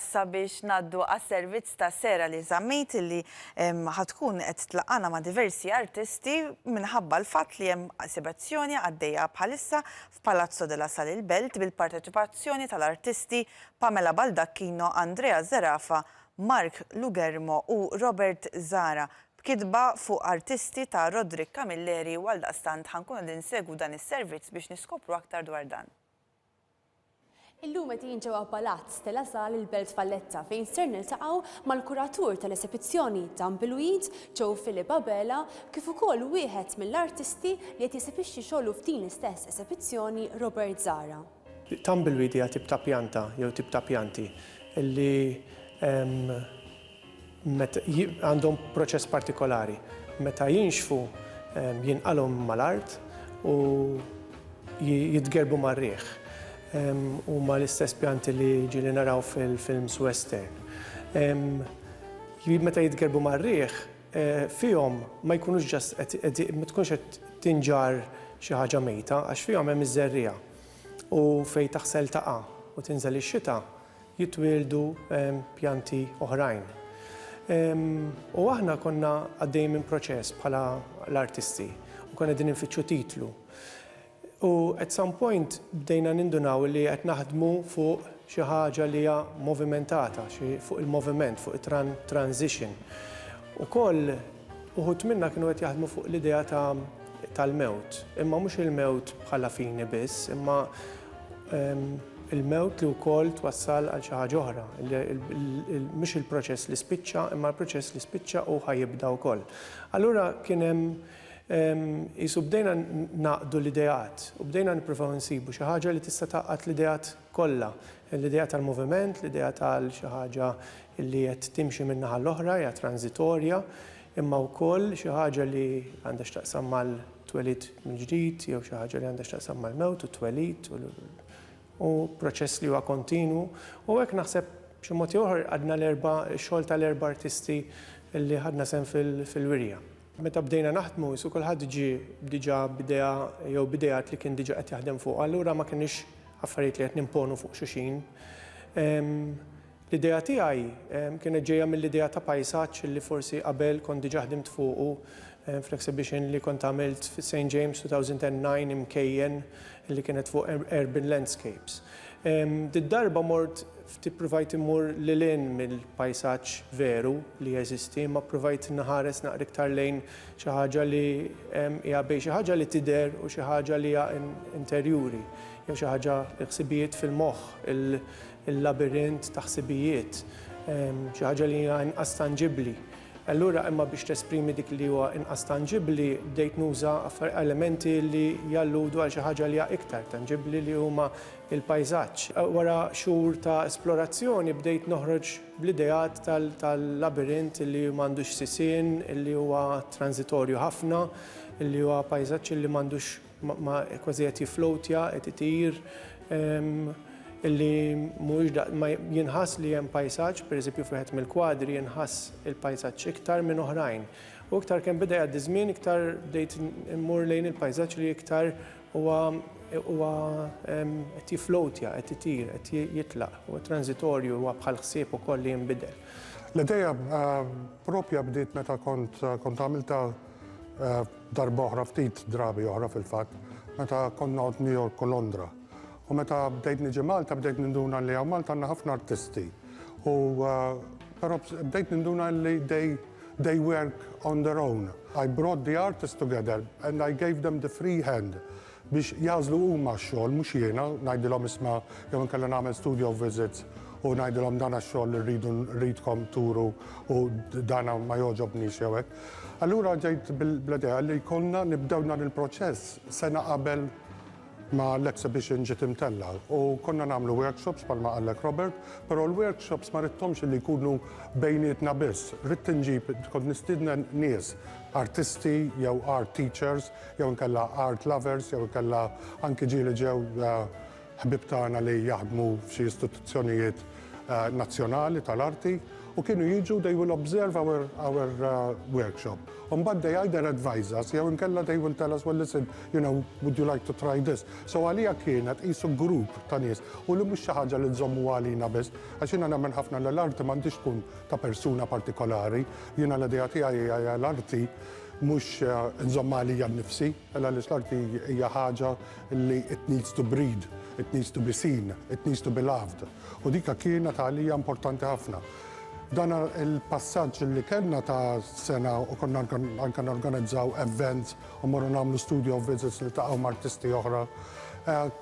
sabiex ngħaddu għas-servizz ta' Sera li żammejt illi ħa tkun qed tlaqqana ma' diversi artisti minħabba l-fatt li hemm esibezzjoni għaddejja bħalissa f'Palazzo della Sal il-Belt bil-parteċipazzjoni tal-artisti Pamela Baldacchino, Andrea Zerafa, Mark Lugermo u Robert Zara b'kitba fuq artisti ta' Roderick Camilleri u għaldaqstant ħa nkunu qegħdin insegwu dan is-servizz biex niskopru aktar dwar dan. Illum qed jien ġewwa Palazz De La Salle il-Belt Valletta fejn ser niltaqgħu mal-kuratur tal-esebizzjoni Dan bil-Weed, Joe Philip Abela, kif ukoll wieħed mill-artisti li qed jesebixxi xogħlu f'din l-istess esebizzjoni, Robert Zahra. Tumbleweed hija tip ta' pjanta jew tip ta' pjanti li Għandhom proċess partikolari. Meta jinxfu jinqalgħu mal-art u jitgerbu mar-riħ. Huma l-istess pjanti li ġieli naraw fil-films western. Meta jitgerbu mar-riħ, fihom ma jkunux just qed, ma tkunx qed tinġarr xi ħaġa mejta għax fihom hemm iż-żerriegħa u fejn taħsel taqa' u tinżel ix-xita, jitwieldu pjanti oħrajn. U aħna konna għaddejjin minn proċess bħala l-artisti u konna din infittxu titlu. U at some point bdejna nindunaw li qed naħdmu fuq xi ħaġa li hija movimentata, fuq il-moviment, fuq it-transition. Ukoll uħud minna kienu qed jaħdmu fuq l-idea tal-mewt, imma mhux il-mewt bħala fini biss, imma il-mewt li wkoll twassal għal xi ħaġa oħra. Mhux il-proċess li spiċċa, imma l-proċess li spiċċa u ħajibda wkoll. Allura kien hemm jisu bdejna naqdu l-ideat u bdejna nippruvaw insibu xi ħaġa li tista' taqgħad l-ideat kollha. L-idea tal-moviment, l-idea tal xi ħaġa li qed timxi min-naħa l-oħra, hija transitorja, imma wkoll xi ħaġa li għandha x'taqsam mal-twelid mill-ġdid jew xi ħaġa li għandha x'taqsam mal-mewt u t-twelid u u proċess li huwa kontinwu. U hekk naħseb b'xi mod jew ieħor qadna l-erba' x-xogħol tal-erba' artisti li ħadna sehem fil-wirja. Meta bdejna naħdmu qisu kulħadd ġie diġà b'idea jew b'ideat li kien diġà qed jaħdem fuqha, allura ma kinux affarijiet li qed nimponu fuq xulxin. L-idea tiegħi kienet ġejja mill-idea ta' pajsaġġ li forsi qabel kont diġà ħdimt fuqu fl-exhibition li kont għamilt fi St James 2009 imkejjen li kienet fuq urban landscapes. Did-darba mort ftit ippruvajt immur lil hinn mill-pajsaġġ veru li jeżisti imma ppruvajt nħares naqra iktar lejn xi ħaġa li hija bejn xi ħaġa li tidher u xi ħaġa li hija interjuri jew xi ħaġa l-ħsibijiet fil-moħħ, il-labirint ta' ħsibijiet, xi ħaġa li hija inqas tanġibbli. Allura imma biex tesprimi dik li huwa inqas tanġibbli bdejt nuża elementi li jalludu għal xi ħaġa li hija iktar tanġibbli li huma l-pajżaġġ. Wara xhur ta' esplorazzjoni bdejt noħroġ bl-ideat tal-labirint li m'għandux sisien, li huwa tranżitorju ħafna, li huwa pajżaġġ li m'għandux Ma kważi qed jifflowtja, qed itir, illi mhuwiex daqs, ma jinħass li hemm pajsaġġ, pereżempju f'wieħed mill-kwadri jinħass il-pajsaġġ iktar minn oħrajn. U iktar kemm beda jgħaddi ż-żmien iktar bdejt immur lejn il-pajsaġġ li iktar huwa huwa qed jifflowtja, qed itir, qed jitlaq, huwa transitorju, huwa bħal ħsieb ukoll li jinbidel. L-idea proprja bdiet meta kont kont għamiltha Darba oħra, ftit drabi oħra fil-fatt, meta kont noqgħod New York u Londra. U meta bdejt niġi Malta bdejt ninduna li hawn Malta għandna ħafna artisti. U però bdejt ninduna li they they work on their own. I brought the artists together and I gave them the free hand biex jagħżlu huma x-xogħol mhux jiena ngħidilhom isma' jew inkella nagħmel studio visits u ngħidilhom dan x-xogħol li rridu rridkom turu u dan ma jogħġobnix jew hekk. Allura ġejt bl-idea li jkollna nibdew dan il-proċess sena qabel ma l-exhibition ġiet imtellgħa u konna nagħmlu workshops bħalma qallek Robert, però l-workshops ma ridthomx li jkunu bejnietna biss, ridt inġib kont nistieden nies, artisti jew art teachers, jew inkella art lovers, jew inkella anki ġieli li ġew ħbieb tagħna li jaħdmu f'xi istituzzjonijiet nazzjonali tal-arti u kienu jiġu they will observe our, our uh, workshop. Umbad they either advise us, jew inkella they will tell us, well listen, you know, would you like to try this? So għalija kienet isu grupp ta' nies u li mhux xi ħaġa li nżommu għalina biss, għax jiena nemmen ħafna l-arti m'għandix tkun ta' persuna partikolari, jiena l-idea tiegħi l-arti Mhux nżommha għalija nnifsi, għaliex l-arti hija ħaġa li it needs to breed, it needs to be seen, it needs to be loved, u dika kienet għalija importanti ħafna. Dan il-passaġġ li kellna ta' sena u konna anke norganizzaw events u mmorru nagħmlu studio visits niltaqgħu m'artisti oħra,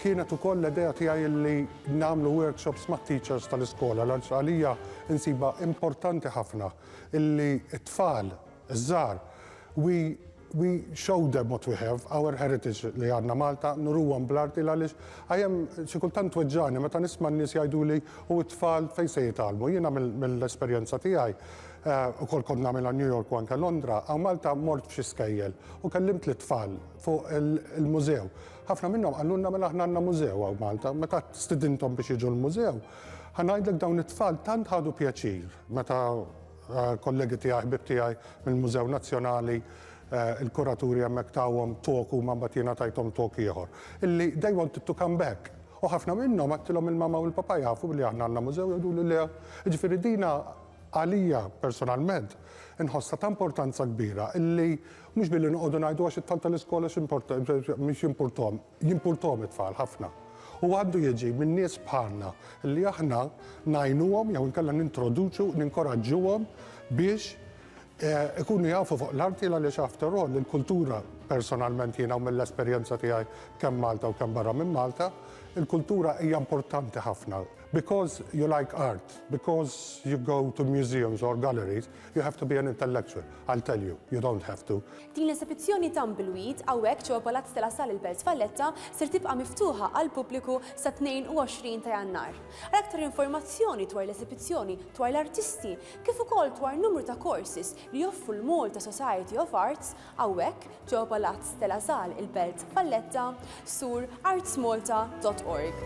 kienet ukoll l-idea tiegħi li nagħmlu workshops mat-teachers tal-iskola għaliex għalija nsibha importanti ħafna li t-tfal Iż-żgħar, We we show them what we have, our heritage li għandna Malta, nuruhom bl-arti l-għaliex I am xi kultant tweġġagħni meta nisma' n-nies jgħiduli u t-tfal fejn se jitgħallmu. Jiena mill-esperjenza tiegħi, ukoll kont nagħmilha New York u anke Londra, hawn Malta mort f'xi skejjel u kellimt lit-tfal fuq il-mużew. Ħafna minnhom qalulna mela aħna għandna mużew hawn Malta. Meta stidinthom biex jiġu l-mużew, ħa ngħidlek dawn it-tfal tant ħadu pjaċir meta Kollegi tiegħi, ħbieb tiegħi mill-Mużew Nazzjonali, il-kuraturi hemmhekk tawhom talk huma mbagħad jiena tajthom talk ieħor. Illi they wanted to come back. U ħafna minnhom għedtilhom il-mama u l-papa jafu li aħna għandna mużew jgħiduli le. Jiġifieri dina għalija personalment inħossha ta' importanza kbira illi mhux billi noqogħdu ngħidu għax it-tfal tal-iskola x'import mhix jimpurthom. Jimpurtom it-tfal ħafna u għandu jiġi minn nies bħalna li aħna ngħinuhom jew inkella nintroduċu, ninkoraġġuhom biex ikunu jafu fuq l-arti għaliex after all il-kultura personalment jiena u mill-esperjenza tiegħi kemm Malta u kemm barra minn Malta, il-kultura hija importanti ħafna. Because you like art, because you go to museums or galleries, You have to be an intellectual, I'll tell you, you don't have to. Din l-esebizzjoni Tumbleweed hawnhekk ġewwa Palazz de la Salle il-Belt Valletta ser tibqa' miftuħa għall-pubbliku sat-22 ta' Jannar. Għal aktar informazzjoni dwar l-esebizzjoni, dwar l-artisti, kif ukoll dwar numru ta' courses li joffru l-Malta Society of Arts hawnhekk ġewwa Palazz de la Salle il-Belt Valletta, zur artsmalta.org.